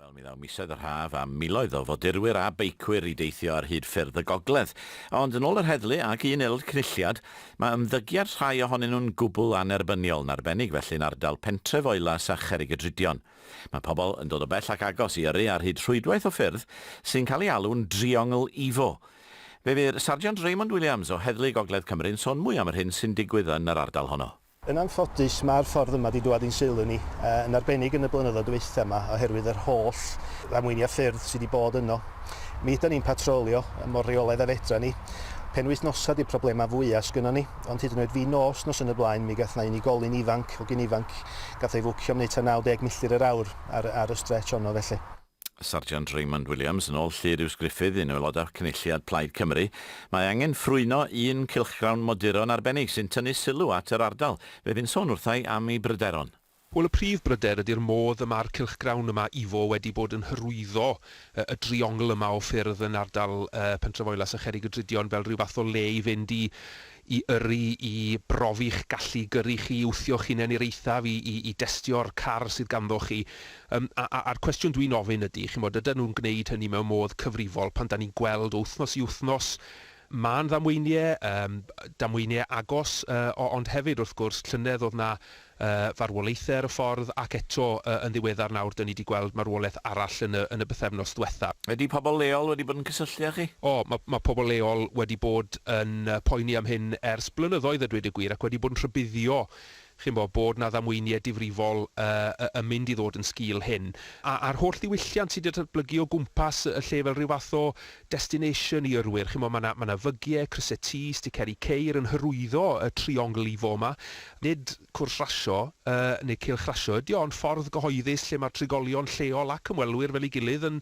Wel, mi ddaw misoedd yr haf a miloedd o fodurwyr a beicwyr i deithio ar hyd ffyrdd y gogledd. Ond yn ôl yr heddlu ac un aelod cynulliad, mae ymddygiad rhai ohonyn nhw'n gwbl annerbyniol, yn arbennig felly yn ardal pentref Oelas a Cherrigydrudion. Mae pobl yn dod o bell ac agos i yrru ar hyd rhwydwaith o ffyrdd sy'n cael ei alw'n Driongl Ifo. Fe fu'r Sarjant Raymond Williams o Heddlu Gogledd Cymru'n sôn mwy am yr hyn sy'n digwydd yn yr ardal honno. Yn anffodus, mae'r ffordd yma 'di dwad i'n sylw ni, yn arbennig yn y blynyddoedd dwytha 'ma oherwydd yr holl ddamweinia ffyrdd sy 'di bod yno. Mi ydan ni'n patrolio mor reolaidd a fedran ni. Penwythnosa 'di'r problema fwya sgynnon ni, ond hyd yn oed fi nos nos yn y blaen mi gath 'na unigolyn ifanc, hogyn ifanc, gath o'i fwcio am neu' ta 90 milltir yr awr ar ar y strêtsh onno felly. Sarjant Raymond Williams, yn ôl Llyr Huws Gruffydd, un o aelodau Cynulliad Plaid Cymru, Mae angen ffrwyno un cylchgrawn moduro'n arbennig sy'n tynnu sylw at yr ardal. Fe fu'n sôn wrtha i am ei bryderon. Wel, y prif bryder ydy'r modd y mae'r cylchgrawn yma, Ifo, wedi bod yn hyrwyddo y driongl yma o ffyrdd yn ardal Pentrefoelus a Cherrig-y-drudion fel rhyw fath o le i fynd i i yrru, i brofi'ch gallu gyrru chi, i wthio'ch hunain i'r eithaf, i i i destio'r car sydd ganddoch chi. Yym, a a a'r cwestiwn dwi'n ofyn ydy, chimod, ydan nhw'n gwneud hynny mewn modd cyfrifol pan 'dan ni'n gweld o wythnos i wythnos, mân ddamweinie, yym, damweinie agos, yy, o- ond hefyd, wrth gwrs, llynedd o'dd 'na y farwolaethau ar y ffordd, ac eto yn ddiweddar nawr dan ni wedi gweld marwolaeth arall yn y yn y bythefnos dwetha. Ydy pobl leol wedi bod yn cysylltu â chi? O, ma' ma' pobl leol wedi bod yn poeni am hyn ers blynyddoedd a dweud y gwir, ac wedi bod yn rhybuddio chi'n bo, bod 'na ddamweiniau difrifol yy yn mynd i ddod yn sgil hyn. A a'r holl ddiwylliant sy' 'di datblygu o gwmpas y lle fel rhyw fath o destination i yrwyr. Chimo ma na ma na fygie, cryse T, sticeri ceir yn hyrwyddo y triongl i fo ma. Nid cwrs rasio yy neu cylch rasio ydi o ond ffordd gyhoeddus lle ma'r trigolion lleol ac ymwelwyr fel i gilydd yn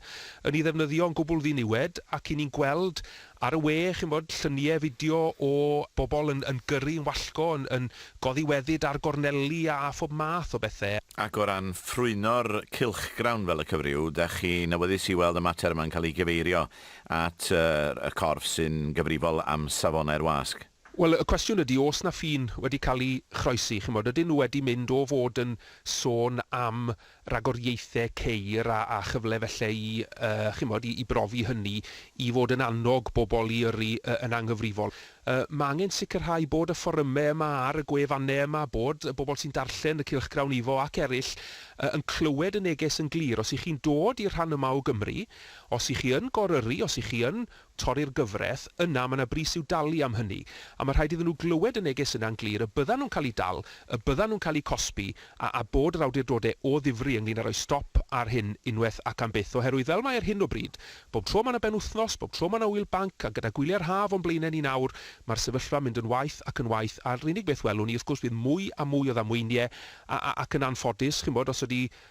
yn i ddefnyddio yn gwbwl ddiniwed ac i ni'n gweld ar y we chi'n bod llynie fideo o bobol yn yn gyrru yn wallgo yn yn Godi weddid ar gorneli a phob math o bethe. Ac o ran ffrwyno'r cylchgrawn fel y cyfryw, dach chi'n awyddus i weld y mater yma'n cael ei gyfeirio at y corff sy'n gyfrifol am safonau'r wasg? Wel, y cwestiwn ydy, oes 'na ffin wedi cael ei chroesi? Chimod, ydyn nhw wedi mynd o fod yn sôn am ragor ieithe ceir a a chyfle felle i yy chimod i i brofi hynny i fod yn annog bobl i yrru yy yn anghyfrifol. Yy ma' angen sicrhau bod y fforyme yma ar y gwefanne yma bod y bobl sy'n darllen y cylchgrawn ifo ac eryll yy yn clywed y neges yn glir. Os 'y chi'n dod i'r rhan yma o Gymru, os 'y chi yn gor-yrru, os 'y chi yn torri'r gyfraith, yna mae 'na bris i'w dalu am hynny, a mae rhaid iddyn nhw glywed y neges yna'n glir y byddan nhw'n cael eu dal, y byddan nhw'n cael eu cosbi, a a bod yr awdurdodau o ddifri ynglŷn â rhoi stop ar hyn unwaith ac am byth, oherwydd fel mae ar hyn o bryd, bob tro mae 'na benwythnos, bob tro mae 'na ŵyl banc, a gyda gwyliau'r haf o'n blaenau ni nawr, mae'r sefyllfa'n mynd yn waeth ac yn waeth, a'r unig beth welwn ni, wrth gwrs, fydd mwy a mwy o ddamweiniau, a a ac yn anffodus, chi'n gwybod, os ydy